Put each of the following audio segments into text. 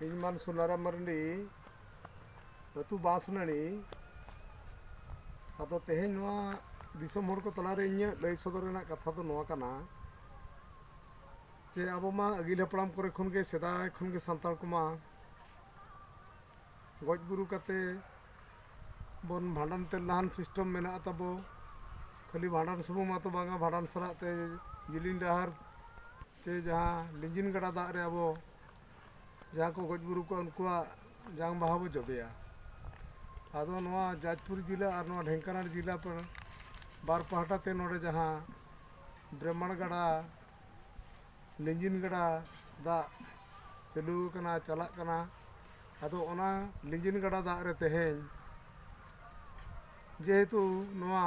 ᱤᱧᱢᱟᱱ ᱥᱩᱱᱟᱨᱟᱢ ᱢᱟᱨᱰᱤ ᱟᱹᱛᱩ ᱵᱟᱸᱥᱱᱟᱹᱲᱤ ᱟᱫᱚ ᱛᱮᱦᱮᱧ ᱱᱚᱣᱟ ᱫᱤᱥᱚᱢ ᱦᱚᱲ ᱠᱚ ᱛᱟᱞᱟᱨᱮ ᱤᱧᱟᱹᱜ ᱞᱟᱹᱭ ᱥᱚᱫᱚᱨ ᱨᱮᱱᱟᱜ ᱠᱟᱛᱷᱟ ᱫᱚ ᱱᱚᱣᱟ ᱠᱟᱱᱟ ᱡᱮ ᱟᱵᱚ ᱢᱟ ᱟᱹᱜᱤᱞ ᱦᱟᱯᱲᱟᱢ ᱠᱚᱨᱮ ᱠᱷᱚᱱ ᱜᱮ ᱥᱮᱫᱟᱭ ᱠᱷᱚᱱ ᱜᱮ ᱥᱟᱱᱛᱟᱲ ᱠᱚᱢᱟ ᱜᱚᱡ ᱜᱩᱨᱩ ᱠᱟᱛᱮ ᱵᱚᱱ ᱵᱷᱟᱸᱰᱟᱱ ᱛᱮ ᱞᱟᱦᱟᱱ ᱥᱤᱥᱴᱮᱢ ᱢᱮᱱᱟᱜ ᱛᱟᱵᱚ ᱠᱷᱟᱹᱞᱤ ᱵᱷᱟᱸᱰᱟᱱ ᱥᱩᱢᱩᱝ ᱢᱟᱛᱚ ᱵᱟᱝᱟ ᱵᱷᱟᱸᱰᱟᱱ ᱥᱟᱞᱟᱜ ᱛᱮ ᱡᱤᱞᱤᱧ ᱰᱟᱦᱟᱨ ᱥᱮ ᱡᱟᱦᱟᱸ ᱞᱤᱸᱜᱤᱱ ᱜᱟᱰᱟ ᱫᱟᱜ ᱨᱮ ᱟᱵᱚ ᱡᱟᱦᱟᱸ ᱠᱚ ᱜᱚᱡ ᱵᱩᱨᱩ ᱠᱚᱜᱼᱟ ᱩᱱᱠᱩᱣᱟᱜ ᱡᱟᱝ ᱵᱟᱦᱟ ᱵᱚᱱ ᱡᱚᱵᱮᱭᱟ ᱟᱫᱚ ᱱᱚᱣᱟ ᱡᱟᱡᱽᱯᱩᱨ ᱡᱮᱞᱟ ᱟᱨ ᱱᱚᱣᱟ ᱰᱷᱮᱝᱠᱟᱱᱟᱲ ᱡᱮᱞᱟ ᱯᱟᱲᱟ ᱵᱟᱨ ᱯᱟᱦᱴᱟ ᱛᱮ ᱱᱚᱰᱮ ᱡᱟᱦᱟᱸ ᱵᱨᱮᱢᱟᱬ ᱜᱟᱰᱟ ᱞᱤᱸᱜᱤᱱ ᱜᱟᱰᱟ ᱫᱟᱜ ᱪᱟᱹᱞᱩ ᱟᱠᱟᱱᱟ ᱪᱟᱞᱟᱜ ᱠᱟᱱᱟ ᱟᱫᱚ ᱚᱱᱟ ᱞᱤᱸᱜᱤᱱ ᱜᱟᱰᱟ ᱫᱟᱜ ᱨᱮ ᱛᱮᱦᱮᱧ ᱡᱮᱦᱮᱛᱩ ᱱᱚᱣᱟ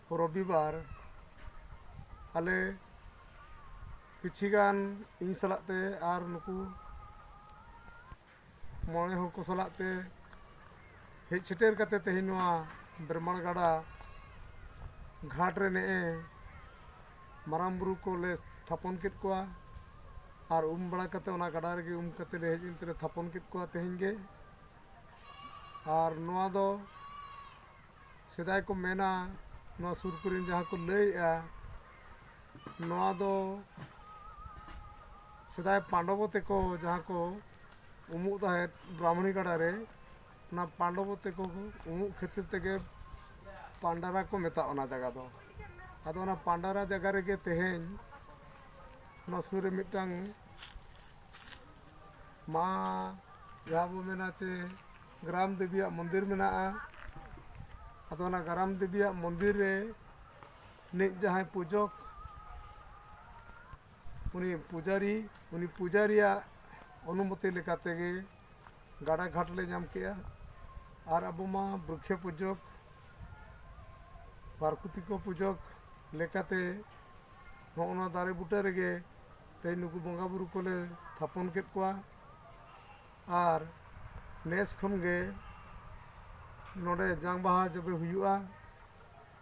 ᱨᱚᱵᱤᱵᱟᱨ ᱟᱞᱮ ᱠᱤᱪᱷᱤ ᱜᱟᱱ ᱤᱧ ᱥᱟᱞᱟᱜ ᱛᱮ ᱟᱨ ᱱᱩᱠᱩ ᱢᱚᱬᱮ ᱦᱚᱲ ᱠᱚ ᱥᱟᱞᱟᱜ ᱛᱮ ᱦᱮᱡ ᱥᱮᱴᱮᱨ ᱠᱟᱛᱮ ᱛᱮᱦᱮᱧ ᱱᱚᱣᱟ ᱵᱮᱨᱢᱟᱬ ᱜᱟᱰᱟ ᱜᱷᱟᱴ ᱨᱮ ᱱᱮᱜᱼᱮ ᱢᱟᱨᱟᱝ ᱵᱩᱨᱩ ᱠᱚᱞᱮ ᱛᱷᱟᱯᱚᱱ ᱠᱮᱫ ᱠᱚᱣᱟ ᱟᱨ ᱩᱢ ᱵᱟᱲᱟ ᱠᱟᱛᱮ ᱚᱱᱟ ᱜᱟᱰᱟ ᱨᱮᱜᱮ ᱩᱢ ᱠᱟᱛᱮ ᱞᱮ ᱦᱮᱡ ᱮᱱ ᱛᱮᱞᱮ ᱛᱷᱟᱯᱚᱱ ᱠᱮᱫ ᱠᱚᱣᱟ ᱛᱮᱦᱮᱧ ᱜᱮ ᱟᱨ ᱱᱚᱣᱟ ᱫᱚ ᱥᱮᱫᱟᱭ ᱠᱚ ᱢᱮᱱᱟ ᱱᱚᱣᱟ ᱥᱩᱨ ᱠᱚᱨᱮᱱ ᱡᱟᱦᱟᱸ ᱠᱚ ᱞᱟᱹᱭᱮᱜᱼᱟ ᱱᱚᱣᱟ ᱫᱚ ᱥᱮᱫᱟᱭ ᱯᱟᱱᱰᱚᱵᱚ ᱛᱮᱠᱚ ᱡᱟᱦᱟᱸ ᱠᱚ ᱩᱢᱩᱜ ᱛᱟᱦᱮᱸᱫ ᱵᱨᱟᱢᱚᱱᱤ ᱜᱟᱰᱟ ᱨᱮ ᱚᱱᱟ ᱯᱟᱱᱰᱚᱵᱚ ᱛᱮᱠᱚ ᱩᱢᱩᱜ ᱠᱷᱟᱹᱛᱤᱨ ᱛᱮᱜᱮ ᱯᱟᱱᱰᱟᱨᱟ ᱠᱚ ᱢᱮᱛᱟᱜᱼᱟ ᱚᱱᱟ ᱡᱟᱭᱜᱟ ᱫᱚ ᱟᱫᱚ ᱚᱱᱟ ᱯᱟᱱᱰᱟᱨᱟ ᱡᱟᱭᱜᱟ ᱨᱮᱜᱮ ᱛᱮᱦᱮᱧ ᱚᱱᱟ ᱥᱩᱨ ᱨᱮ ᱢᱤᱫᱴᱟᱝ ᱢᱟ ᱡᱟᱦᱟᱸ ᱵᱚᱱ ᱢᱮᱱᱟ ᱪᱮ ᱜᱨᱟᱢ ᱫᱮᱵᱤᱭᱟᱜ ᱢᱚᱱᱫᱤᱨ ᱢᱮᱱᱟᱜᱼᱟ ᱟᱫᱚ ᱚᱱᱟ ᱜᱨᱟᱢ ᱫᱮᱵᱤᱭᱟᱜ ᱢᱚᱱᱫᱤᱨ ᱨᱮ ᱱᱤᱡ ᱡᱟᱦᱟᱸᱭ ᱯᱩᱡᱚᱠ ᱩᱱᱤ ᱯᱩᱡᱟᱨᱤ ᱩᱱᱤ ᱯᱩᱡᱟᱨᱤᱭᱟᱜ ᱚᱱᱩᱢᱚᱛᱤ ᱞᱮᱠᱟ ᱛᱮᱜᱮ ᱜᱟᱰᱟ ᱜᱷᱟᱴ ᱞᱮ ᱧᱟᱢ ᱠᱮᱜᱼᱟ ᱟᱨ ᱟᱵᱚ ᱢᱟ ᱵᱨᱤᱠᱠᱷᱚ ᱯᱩᱡᱚᱠ ᱯᱨᱟᱠᱨᱤᱛᱤᱠᱚ ᱯᱩᱡᱚᱠ ᱞᱮᱠᱟᱛᱮ ᱱᱚᱜᱼᱚ ᱱᱚᱣᱟ ᱫᱟᱨᱮ ᱵᱩᱴᱟᱹ ᱨᱮᱜᱮ ᱛᱮᱦᱮᱧ ᱱᱩᱠᱩ ᱵᱚᱸᱜᱟᱼᱵᱩᱨᱩ ᱠᱚᱞᱮ ᱛᱷᱟᱯᱚᱱ ᱠᱮᱫ ᱠᱚᱣᱟ ᱟᱨ ᱱᱮᱥ ᱠᱷᱚᱱ ᱜᱮ ᱱᱚᱸᱰᱮ ᱡᱟᱝ ᱵᱟᱦᱟ ᱡᱚᱵᱮ ᱦᱩᱭᱩᱜᱼᱟ